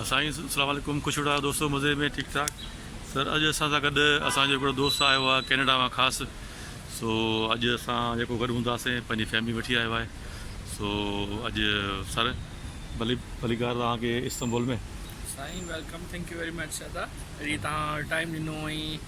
سائين سلام عليڪم خوش وڏا دوستو مزي ۾ ٺيڪ ٺاڪ سر اڄ اسان سان گڏ اسان جو هڪڙو دوست آيو آهي ڪينيڊا مان خاص سو اڄ اسان جيڪو گڏ هونداسين پنهنجي فيملي وٺي آيو آهي سو اڄ سر ڀلي ڀلي گار توهان کي استنبول ۾ سائين welcome thank you very much ادا جي توهان ٽائيم ڏنو ۽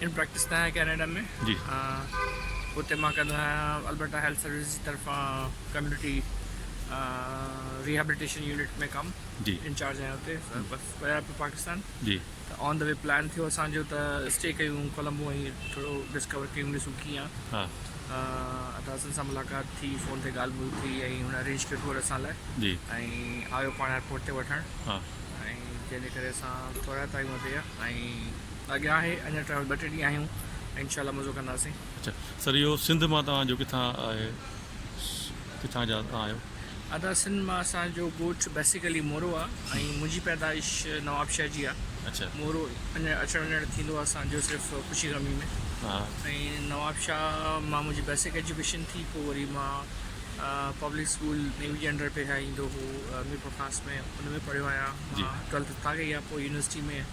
ان پريڪٽس ڪيا آهي ڪينيڊا ۾ اتي مان ڪندو آهيان البرٽا هيلٿ سروسز جي طرفان ڪميونٽي ريهابليٽيشن يونٽ ۾ ڪم انچارج آهيان اتي بس ويا پيو پاڪستان ته آن دا وي پلان ٿيو اسانجو ته اسٽي ڪيون ڪولمبو ۽ ٿورو ڊسڪور ڪيون ڏسون ڪيئن آهي اداسن سان ملاقات ٿي فون تي ڳالهه ٻولهه ٿي ۽ هن ارينج ڪيو ٽوئر اسان لاء ۽ آيو پاڻ ايئرپورٽ تي وٺڻ ۽ جنهن جي ڪري اسان ٿورا ٽائيم اتي ۽ اڳيان آهي اڃا ٽرائل ٻه ٽي ڏينهن آهيون ۽ انشاء الله مزو ڪنداسين. اڇا سر اهو سنڌ مان توهان جو ڪٿان آهي ڪٿان جا توهان آهيو. ادا سنڌ مان اسان جو ڳوٺ بيسيڪلي مورو آ ۽ منهنجي پيدائش نواب شاهه جي آ اڇا مورو اچڻ وڃڻ ٿيندو آ اسان جو صرف خوشي غمي ۾ ها ۽ نواب شاهه مان منهنجي بيسڪ ايجوڪيشن ٿي پوء وري مان پبلڪ اسڪول نيوي جي انڊر پهريان ايندو هو ميرپور خاص ۾ ان ۾ پڙهيو آهيان جي مان ٽويلٿ اتان ڪئي آ پوء يونيورسٽي ۾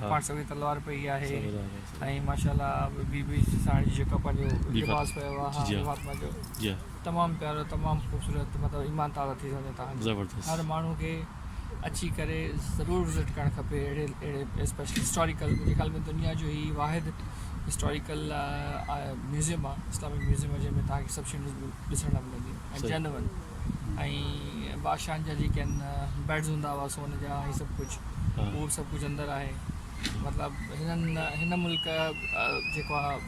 پاڻ سوين تلوار پئي آهي ۽ ماشاء الله بي بي ساڻ جي جيڪا پنهنجو لباس پيو آهي جي فاطمه جو تمام پيارو تمام خوبصورت مطلب ايمان تازا ٿي ويندو تهان جو هر ماڻهو کي اچي ڪري ضرور وزٽ ڪرڻ کپي اهڙي اهڙي اسپيشل هسٽوريڪل منهنجي خيال ۾ دنيا جو هي واحد هسٽوريڪل ميوزيم آهي اسلامڪ ميوزيم جنهن ۾ تهان کي سڀ شيون ڏسڻ لاء ملنديون ۽ جينون ۽ بادشاهن جا جيڪي آهن بيڊز هوندا هئا سون جا ۽ سڀ ڪجهه اهو به سڀ ڪجهه اندر آهي مطلب هنن هن ملڪ جيڪو آهي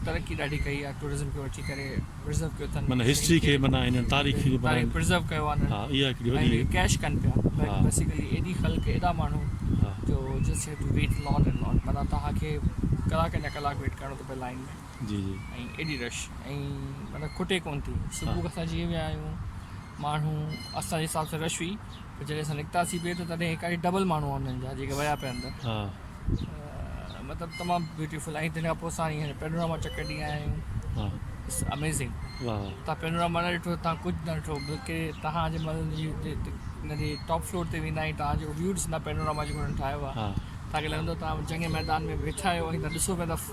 ترقي ڏاڍي ڪئي آهي ٽوئرزم کي وٺي ڪري پرزرو ڪيو اٿن معنيٰ هسٽري کي معنيٰ هنن تاريخ کي تاريخ پرزرو ڪيو آهي ها اها هڪڙي وڏي ۽ ڪيش ڪن پيا بيسيڪلي ايڏي خلق ايڏا ماڻهو جو just have to wait lot and lot معنيٰ توهان کي ڪلاڪن جا ڪلاڪ ويٽ ڪرڻو ٿو پئي لائين ۾ جي جي ۽ ايڏي رش ۽ مطلب کٽي ڪون ٿي صبح کان اسان جيئن ويا آهيون ماڻهو اسان جي حساب سان رش هئي پر جڏهن اسان نڪتاسي ٻيهر ته تڏهن ايڪاڻي ڊبل ماڻهو آهن انهن جا جيڪي ويا پيا اندر ها مطلب تمام بيوٽيفل ۽ تنهن کان پوء اسان هينئر پينوراما چڪر ڏينهن آيا آهيون ها اٽس اميزنگ واه واه تان پينوراما نه ڏٺو تان ڪجهه نه ڏٺو بلڪه تهان جي مطلب جي ان جي ٽاپ فلور تي ويندا آهيون تان جو ويو ڏسندا پينوراما جيڪو هنن ٺاهيو آهي ها تان کي لڳندو تان جنگ ميدان ۾ ويٺا آهيو ۽ تان ڏسو پيا ته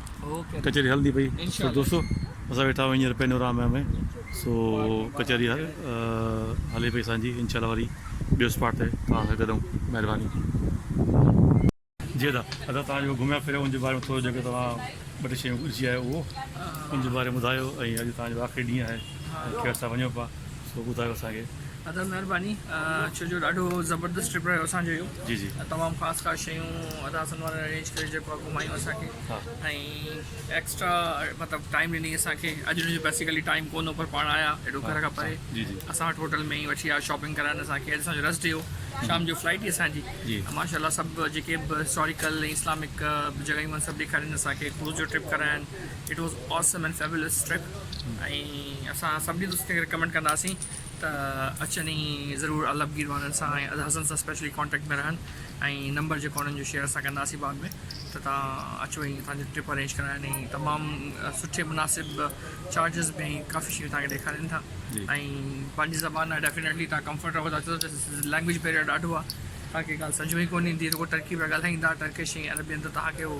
ڪچهري هلندي پئي سو دوستو اسان ويٺا آهيون هينئر پينورامي ۾ سو ڪچهري هلي پئي اسان جي انشاء الله وري ٻيو اسپاٽ تي توهان سان گڏ مهرباني جي ادا ادا تان جو گھميا پھريا ان جي باري ۾ ٿورو جيڪو تان ٻه ٽي شيون ڏسي آيو اھو ان جي باري ۾ ٻڌايو ۽ اڄ تان جو آخري ڏينھن آھي ۽ کير سان وڃو پا سو ٻڌايو اسان کي. ادا مھرباني ڇو جو ڏاڍو زبردست ٽرپ رھيو اسان جو اھو جي جي تمام خاص خاص شيون ادا حسن وارن ارينج ڪري جيڪو آ گھمايون اسان کي ۽ ايڪسٽرا مطلب ٽائيم ڏني اسان کي اڄ ھن جو بيسيڪلي ٽائيم ڪون ھو پر پاڻ آيا ايڏو گھر کان پري اسان وٽ ھوٽل ۾ ئي وٺي آيا شاپنگ ڪرائن اسان کي اڄ اسان جو ريسٽ ڊي ھو شام جو فلائيٽ ھئي اسان جي ۽ ماشا الله سڀ جيڪي به ھسٽاريڪل ۽ اسلامڪ جڳھيون آھن سڀ ڏيکارين اسان کي ڪروز جو ٽرپ ڪراين it was awesome and fabulous trip ۽ اسان سڀني دوستن کي رڪمينڊ ڪنداسين ته اچن ئي ضرور الب گيروانن سان ۽ ادا حسن سان اسپيشلي ڪانٽيڪٽ ۾ رهن ۽ نمبر جيڪو انهن جو شيئر اسان ڪنداسين بعد ۾ ته تان اچو ۽ اسان جو ٽرپ ارينج ڪرائن ۽ تمام سٺي مناسب چارجز ۾ ڪافي شيون تان کي ڏيکارين ٿا ۽ پنهنجي زبان لاء ڊيفينيٽلي تان ڪمفرٽ رهو ٿا ڇو ته لينگويج بيريئر ڏاڍو آ تان کي ڳالهه سمجهه ۾ ئي ڪون ايندي رڳو ٽرڪي پيا ڳالهائين ٿا ٽرڪش ۽ عربين ته تان کي هو